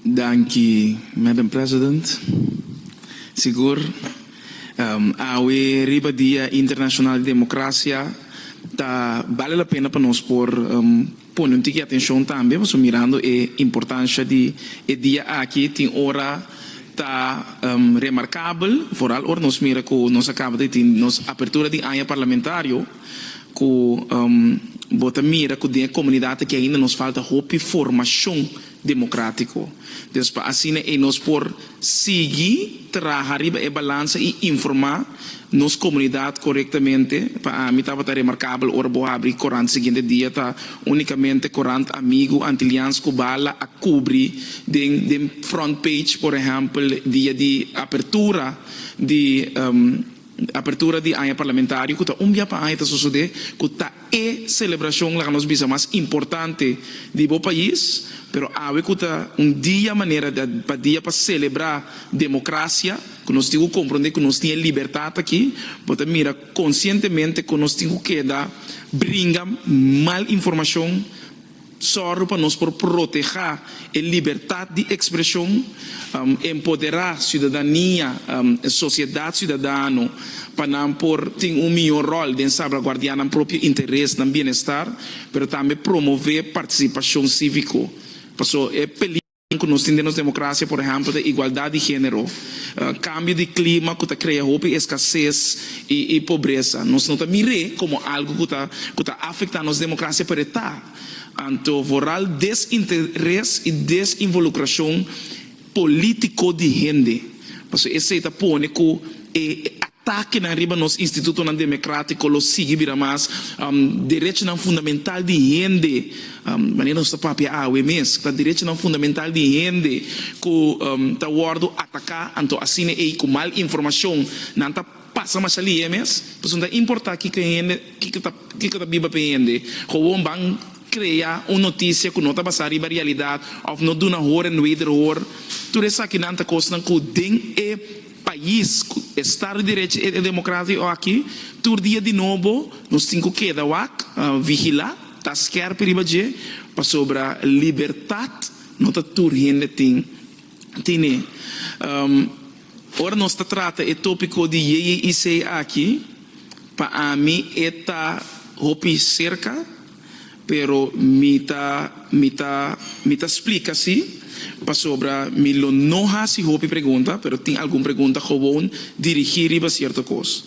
Danki, Madam President. Sigur, awe riba Dia Internashonal di Demokrasia ta bale la pena pa nos por pone un tiki atenshon tambe, pasobra mirando e importansha di e dia aki tin ora ta remarkabel, foral ora nos mira ku nos a kaba di tin nos apertura di aña parlamentario. ku bo ta mira ku den e komunidat aki ainda nos falta hopi formashon demokratiko. Des pa asina ei nos por sigui traha riba e balansa i informá nos komunidat korektamente. Pa ami tabata remarkabel ora bo habri korant siguiente dia ta únikamente korant amigu antilians ku bala a kubri den den front page por ehèmpel dia di apertura di. Apertura di aña parlamentario cu ta un bia pa aña ta sosode cu ta e celebracion laga nos bisa mas importante di bo pais pero awe cu ta un dia manera pa dia pa celebra democracia cu nos tin cu compronde cu nos tin e libertad aki bo ta mira concientemente con nos tin cu keda bringa mal informacion Sòru pa nos por protehá e libertat di ekspreshon, empoderá siudadania, sosiedat siudadano pa nan por tin un mihó ròl den salbraguardiá nan propio interes, nan bienestar, pero tambe promové partisipashon síviko. Paso, e. Ku nos tin den nos demokrasia, por ehèmpel, ta igualdat di género, kambio di klima ku ta krea hopi eskasés i pobresa. Nos no ta mir'é komo algu ku ta ku ta afektá nos demokrasia pa retá. Anto vooral desinteres i desinvolukrashon polítiko di hende. Pasobra esei ta pone ku e. Takenan riba nos institutonan demecratico lo sigui bira mas derechonan fundamental di hende, manera nos ta papia awe mes, ta derechonan fundamental di hende cu ta wordo ataca, anto asina ey cu mal informacion nan ta pasa masha lihe mes. Pasobra ta importa kico hende, kico ta biba pe hende. Gewoon ban crea un noticia cu no ta basa riba realidad of no duna horen wederhoor. Tur esakinan ta cosnan cu den e. Pais cu estado di derecho e democratico aki, tur dia di nobo nos tin cu keda wak, vigila, ta skerpi riba dje, pasobra libertad no ta tur hende tin tine. Ora nos ta trata e topico di JJIC aki, pa ami e ta hopi cerca. Pero mi ta mi ta mi ta splica si pasobra mi lo no haci hopi pregunta, pero tin algun pregunta gewoon dirigi riba cierto cos.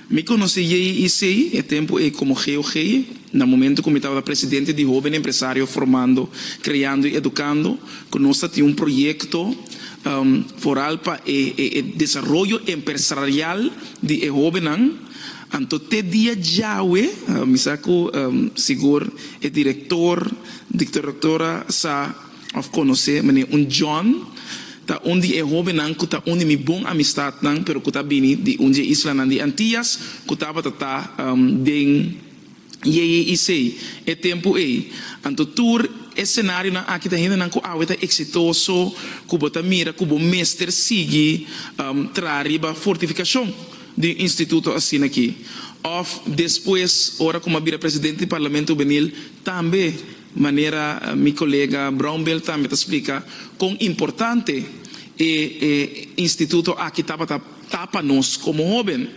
Mi conoci Jay y Sey e tempo ey como Geo Gey, na momento cu mi tabata presidente di Hoben Empresario Formando, Creando y Educando, cu nos ta tin un proyecto foral pa e e e desaroyo empersrarial di e hobennan. Anto te dia djawe, mi sa cu sigur e director di Traductora sa of conoce meneer Un John, ta un di e hobennan cu ta un di mi bon amistadnan pero cu ta bini di un dje islanan di Antillas cu tabata ta den Yeye i Sei e tempu ei. Anto tur e senarionan aki ta hendenan ku awe ta eksitoso ku bo ta mira ku bo mester sigui traha riba fortifikashon di un instituto asina aki. Òf despues ora ku mi a bira presidente di Parlamento Hubenil tambe manera mi kolega Brownbell tambe ta splika kon importante e instituto aki tabata. ta pa nos komo hóben.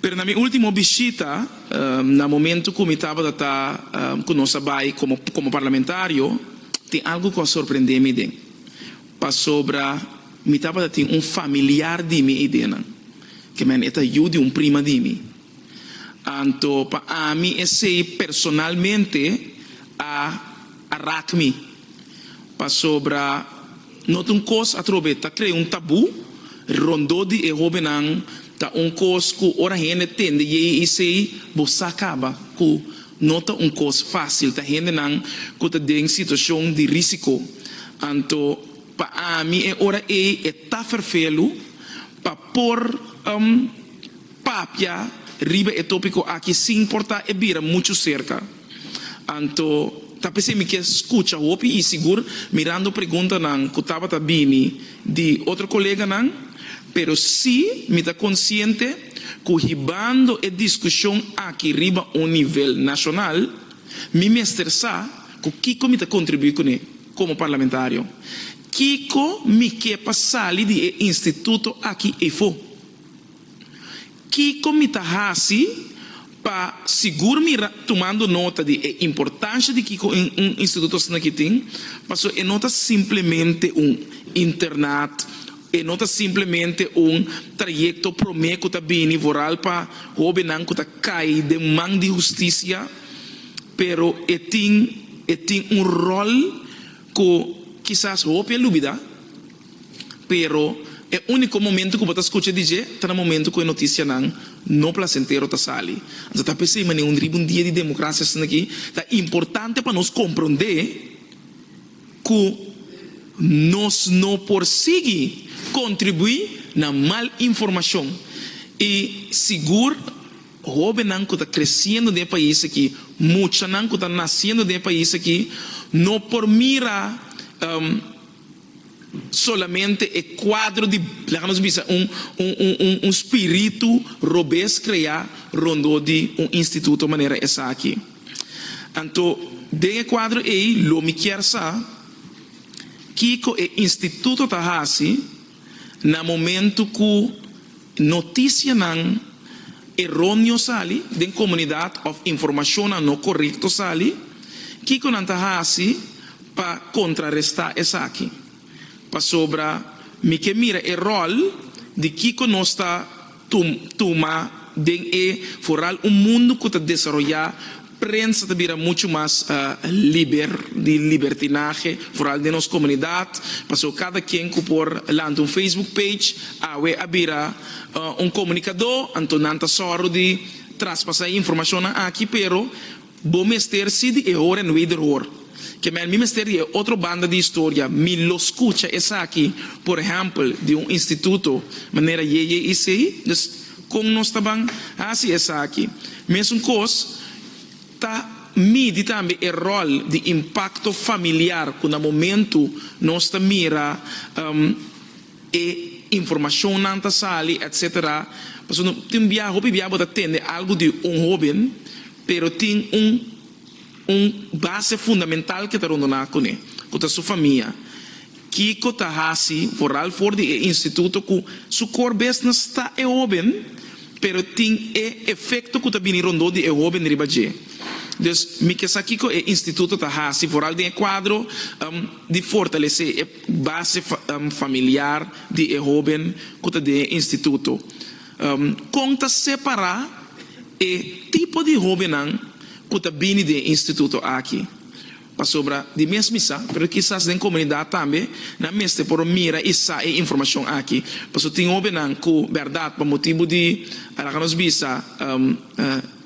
Pero na mi último bishita, na momentu ku mi tabata ta ku nos a bai komo komo parlamentario, tin algu ku a sorprendé mi den. Pasobra mi tabata tin un familiar di mi eidenan, ke men e ta yu di un prima di mi. Anto pa ami esei personalmente a. A raak mi. Pasobra no ta un kos atrobe. Ta krea un tabú rondó di e hóbennan. Ta un kos ku ora hende tende yei eisei bo sa kaba ku no ta un kos fásil. Ta hendenan ku ta den situashon di rísiko. Anto pa ami e ora ei e ta ferfelu pa por. Papia riba e tópiko aki sin importá e bira muchu serka. Anto, ta p'esei mi ke skucha hopi i sigur mirando preguntanan ku tabata bini di otro koleganan, pero si mi ta konsiente ku hibando e diskushon aki riba un nivel nashonal, mi mester sa ku kiko mi ta kontribuí kuné komo parlamentario. Kiko mi ke pa sali di e instituto aki eifo? Kiko mi ta hasi pa sigur mi ra tumando nota di e importansha di kiko un instituto asinaki tin? Paso e no ta simplemente un internat, e no ta simplemente un trayekto promé ku ta bini vooral pa hóbennan ku ta kai den man di hustisia, pero e tin e tin un ròl ku kisas hopi a lubidá. Pero e úniko momento ku bo ta skucha di dje ta na momento ku e notisianan no plasentero ta sali. Anto ta p'esei manera un riba un dia di demokrasia esaki ta importante pa nos komprondé ku nos no por sigui kontribuí na mal informashon i sigur hóbennan ku ta kresiendo den e pais aki, muchanan ku ta nasiendo den e pais aki no por mira. Solamente e kuadro di, laga nos bisa un un spiritu robes krea rondó di un instituto manera esaki. Anto den e kuadro ei lo mi kier sa kiko e instituto ta hasi. Na momento cu noticianan eroneo sali den comunidad of informacionnan no corecto sali, kico nan ta haci pa contraresta esaki? Pasobra mi ke mira e rol di kico nos ta. tuma den e foral un mundu ku ta desaroyá, prensa ta bira muchu mas liber di libertinahe, foral den nos komunidat, pasó kada kien ku por lanta un facebook page awe a bira un komunikadó, anto nan ta sòru di traspasá e informashonnan aki, pero. Bo mester si di e hoor en wederhoor. Ke mel mi mester di e otro banda di historia, mi lo skucha esaki, por ehèmpel, di un instituto, manera JJIC. Dus, kon nos ta ban hasi esaki? Mesun kos ta midi tambe e ròl di impakto familiar ku na momentu nos ta mira e informashonnan ta sali etc. Pasobra no tin bia, hopi bia bo ta tende algu di un hoben pero tin un un base fundamental ke ta rondoná kuné ku ta su famia. Kiko ta hasi foral for di e instituto ku su core business ta e hoben pero tin e efekto ku ta bini rondó di e hoben riba dje. Dus mi ke sa kiko e instituto ta hasi foral den e kuadro di fortalesé e. base familiar di e hóben ku ta den e instituto? Kon ta separá e tipo di hóbennan ku ta bini den e instituto aki? Pasobra di mes mi sa, pero kisas den komunidat tambe nan mester por a mira i sa e informashon aki. Pasobra tin hóbennan ku bèrdat pa motibu di laga nos bisa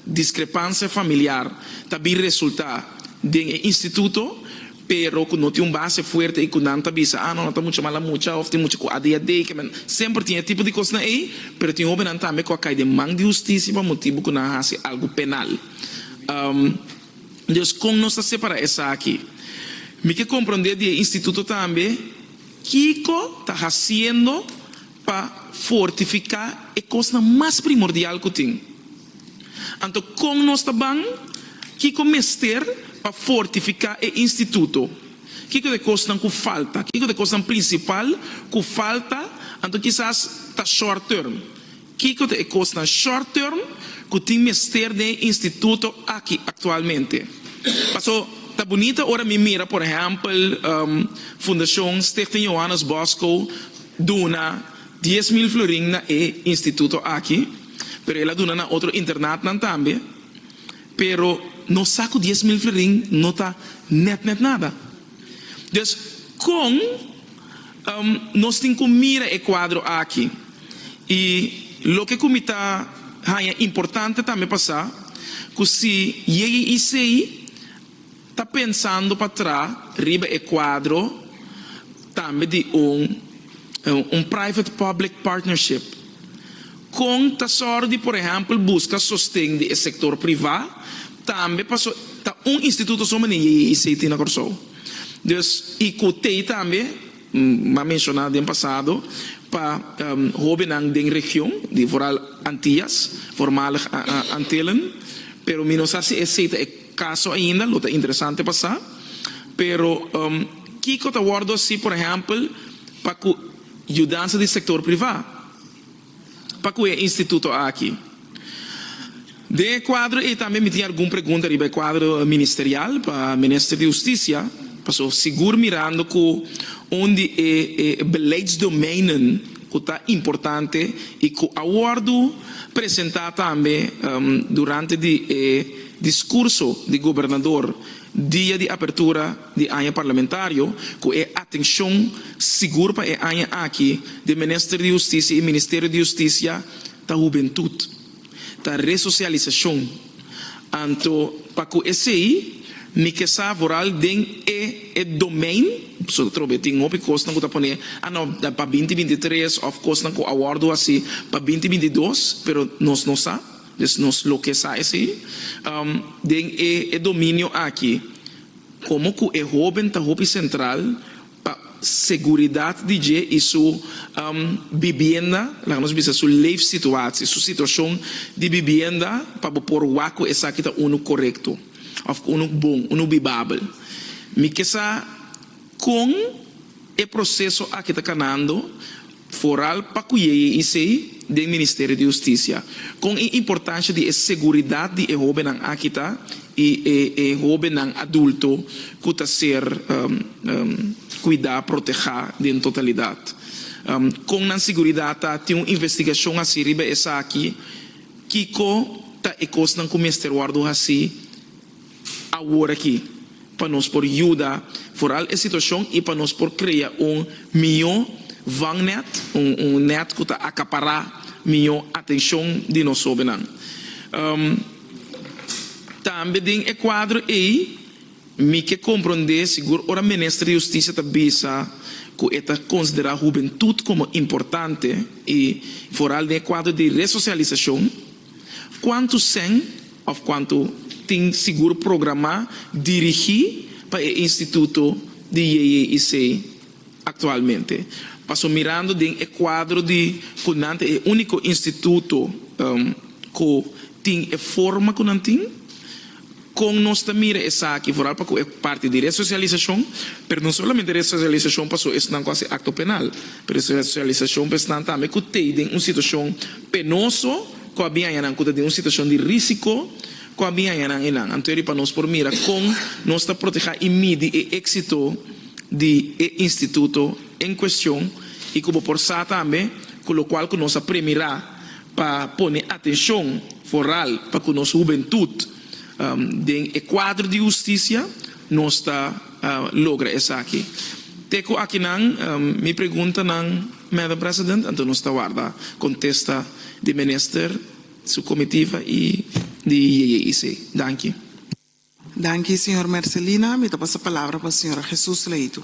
diskrepansia familiar ta bin resultá den e instituto, pero cu no tin un base fuerte y cu nan ta bisa, ah, no, no ta mucha mala mucha, of tin mucha cu adhd, que me, semper tin e tipo di cosnan ey, pero tin hobennan tambe cu a cay den man di husticia pa motibu cu nan a haci algo penal. Um, dus, con nos ta separa esaki? Mi ke comprende di e instituto tambe kico ta haciendo Pa fortifiká e kosnan mas primordial ku tin. Anto kon nos ta ban? Kiko mester pa fortifiká e instituto? Kiko ta e kosnan ku falta? Kiko ta e kosnan prinsipal ku falta anto kisas ta short term? Kiko ta e kosnan short term ku tin mester den e instituto aki aktualmente? Paso ta bunita ora mi mira por ehèmpel Fundashon Stichting Johannes Bosco, duna dies mil florin na e instituto aki pero el a duna na otro internatnan tambe pero no sa cu dies mil florin no ta net net nada des con nos tin cu mira e cuadro aki y loke cu mi ta haya importante tambe pa sa cu si JICI Ta pensando pa tra riba e cuadro tambe di un un private public partnership. Con ta sor di por ehempel busca sosten di e sector priva tambe paso ta un instituto so mane JJICT na Corsou. Dus y cu tey tambe m'a menciona den pasado pa hobennan den region di vooral Antillas, voormalig Antillen, pero mi no sa si ese ta e. Caso ainda lo ta interesante pa sa, pero kico ta wordo haci por ehempel pa cu yudansa di sector priva pa cu e instituto aki? Den e cuadro ey tambe mi tin algun pregunta riba e cuadro ministerial pa Minister di Husticia, pasobra sigur mirando cu un di e beleidsdomeinen ku ta importante i ku a wòrdu presentá tambe durante di e diskurso di gobernador dia di apertura di aña parlamentario ku e atenshon sigur pa e aña aki di Minister di Hustisia i Ministerio di Hustisia ta Hubentut. ta resocialisacion, anto pa cu esey mi ke sa vooral den e e domein, so ta trobe tin hopi cosnan cu ta pone a no pa binti binti tres of cosnan cu a wordo haci pa binti binti dos pero nos no sa, dus nos lo ke sa esey den e e dominio aki como cu e hoben ta hopi central pa seguridat di dje i su bibienda, laga nos bisa su leefsituatie, su situacion di bibienda, pa bo por wak cu esaki ta unu corecto of unu bon, unu bibabel. Mi ke sa con e proceso aki ta canando. Foral pa kuyeye isei den Ministerio di Hustisia. Kon e importansha di e seguridat di e hobennan aki ta i e hobennan adulto ku ta ser kuidá, protehá den totalidat? Kon nan seguridat ta? Tin un investigashon hasi riba esaki? Kiko ta e kosnan ku mester wòrdu hasi? awor aki pa nos por yuda foral e situashon i pa nos por krea un mihó vangnet, un nèt ku ta akapará mihó atenshon di nos hóbennan. Tambe den e kuadro ei mi ke komprondé sigur ora Minister di Hustisia ta bisa ku e ta konsiderá hubentut komo importante i foral den e kuadro di resosialisashon, Kuantu sèn òf kuantu tin sigur programá dirigí pa e instituto di JJIC aktualmente? Paso mirando den e kuadro di ku nan ta e úniko instituto ku tin e forma ku nan tin, Kon nos ta mira esaki? Foral pa ku e parti di resosialisashon, pero no solamente resosialisashon paso esnan ku a hasi akto penal, pero resosialisashon pa esnan tambe ku tei den un situashon penoso ku a bin haña nan ku ta den un situashon di risiko ku a bin haña nan i nan. Anto riba nos por mira kon nos ta protehá i midi e éksito di e instituto en kuestion i ku bo por sa tambe ku lokual ku nos a premirá, pa pone atencion foral pa cu nos hubentud den e cuadro di husticia nos ta logra esaki. Te cu akinan mi pregunta nan Madam President, anto nos ta warda contesta di Minister su comitiva y di JJEC. Danki. Danki señor Mercelina. Mi ta pasa palabra pa señora Jesus Laitu.